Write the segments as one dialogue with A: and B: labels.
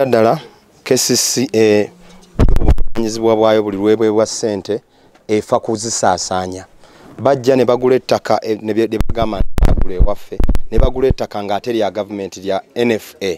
A: ddala kcca obuvunanyizibwa bwayo buli lwebwebwa ssente efa kuzisaasaanya bajja ne bagula ettaka eh, ne bagamba nti bagula ewaffe ne bagula ettaka ng'ate lya gavumenti lya nfa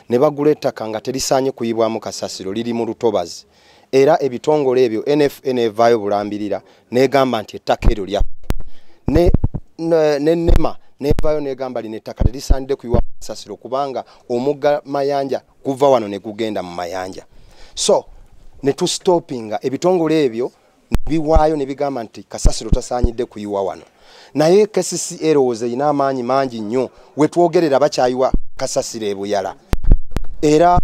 A: ne bagula ettaka nga terisaanye kuyibwamu kasasiro liri mu lutobazi era ebitongole ebyo nfn evaayo bulambirira negamba nti ettaka eryo lya ne nema nevaayo negamba lino ettaka terisandide kuyiwa sasiro kubanga omugga mayanja guva wano negugenda mu mayanja so netustopinga ebitongole ebyo biwaayo ne bigamba nti kasasiro tasaanyidde kuyiwa wano naye kcca erowooza erina amaanyi mangi nnyo wetwogerera bakyayiwa kasasiro ebuyala era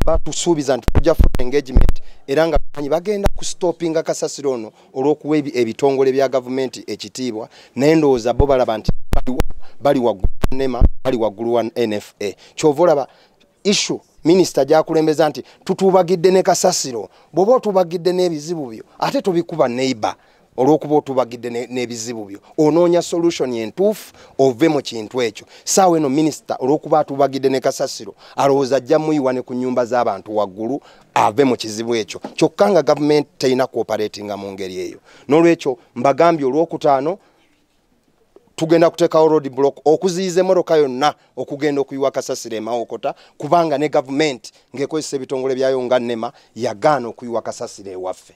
A: batusuubiza nti tujja funa engagement era nga manyi bagenda kustopinga kasasiro ono olw'okuwa ebitongole bya gavumenti ekitiibwa naye ndowooza bo balaba nti bali waggulu nema bali waggulu wa nfa kyova olaba issue minisita gyakulembeza nti tutuubagidde ne kasasiro bw'oba otuubagidde n'ebizibu byo ate tobikuba neighbor olwokuba otubagidde n'ebizibu byo onoonya solution entuufu ove mu kintu ekyo saawa eno minisita olwokuba atubagidde ne kasasiro alowooza ajja muyiwa ne ku nyumba z'abantu waggulu ave mu kizibu ekyo kyokka nga gavumenti terina kuoperatinga mu ngeri eyo n'olwekyo mbagambye olwokutaano tugenda kuteekawo road block okuziyiza emmotoka yonna okugenda okuyiwa kasasiro emawokota kubanga ne gavumenti ng'ekozesa ebitongole byayo nga nema yagaana okuyiwa kasasiro ewaffe